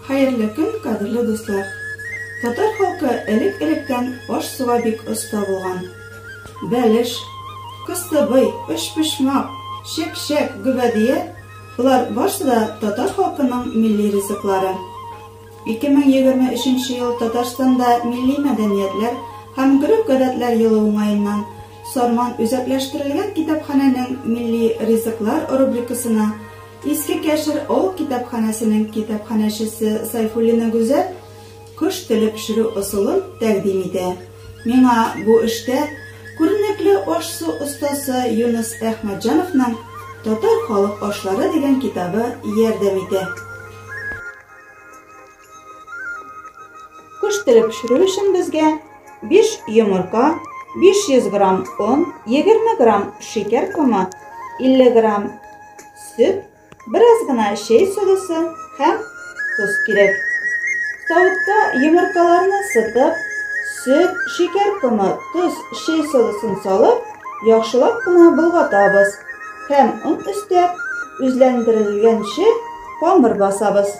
Хәерле көн, кадерле дуслар! Татар халкы элек-электән аш-суга бик оста булган. Бәлеш, кыстыбый, өчпочмак, чепчәк, гөбәдия – болар барсы да татар халкының милли ризыклары. 2023 ел Татарстанда милли мәдәниятләр һәм гореф-гадәтләр елы уңаеннан Сарман үзәкләштерелгән китапханәнең милли ризыклар рубрикасына Иске Кәшер авыл китапханәсенең китапханәчесе Сайфуллина Гүзәл кош теле пешерү ысулын тәкъдим итә. Миңа бу эштә күренекле аш-су остасы Юныс Әхмәтҗановның Татар халык ашлары дигән китабы ярдәм итә. Куш теле пешерү өчен безгә 5 йомырка, 500 грамм он, 20 грамм шикәр комы, 50 грамм сөт, бераз гына чәй содасы һәм тоз кирәк. Савытта йомыркаларны сытып, сөт, шикәр комы, тоз, чәй содасын салып, яхшылап кына болгатабыз һәм он өстәп, үзләндерелгәнче камыр басабыз.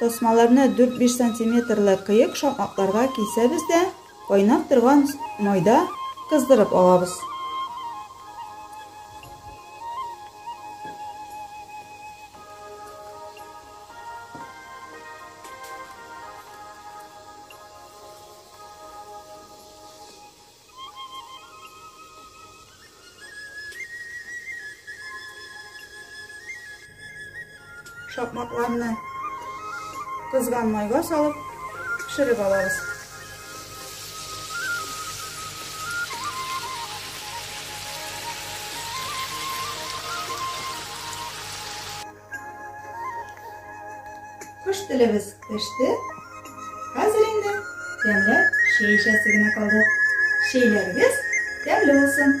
Тасмаларны дүрт-биш сантиметрлы кыек шакмакларга кисәбез дә кайнап торган майда кыздырып алабыз. Шапмакларны кызган майга салып пешереп алабыз. Кыш телебез пеште. Хәзер инде тәмләп чәй эчәсе генә калды. Чәйләрегез тәмле булсын.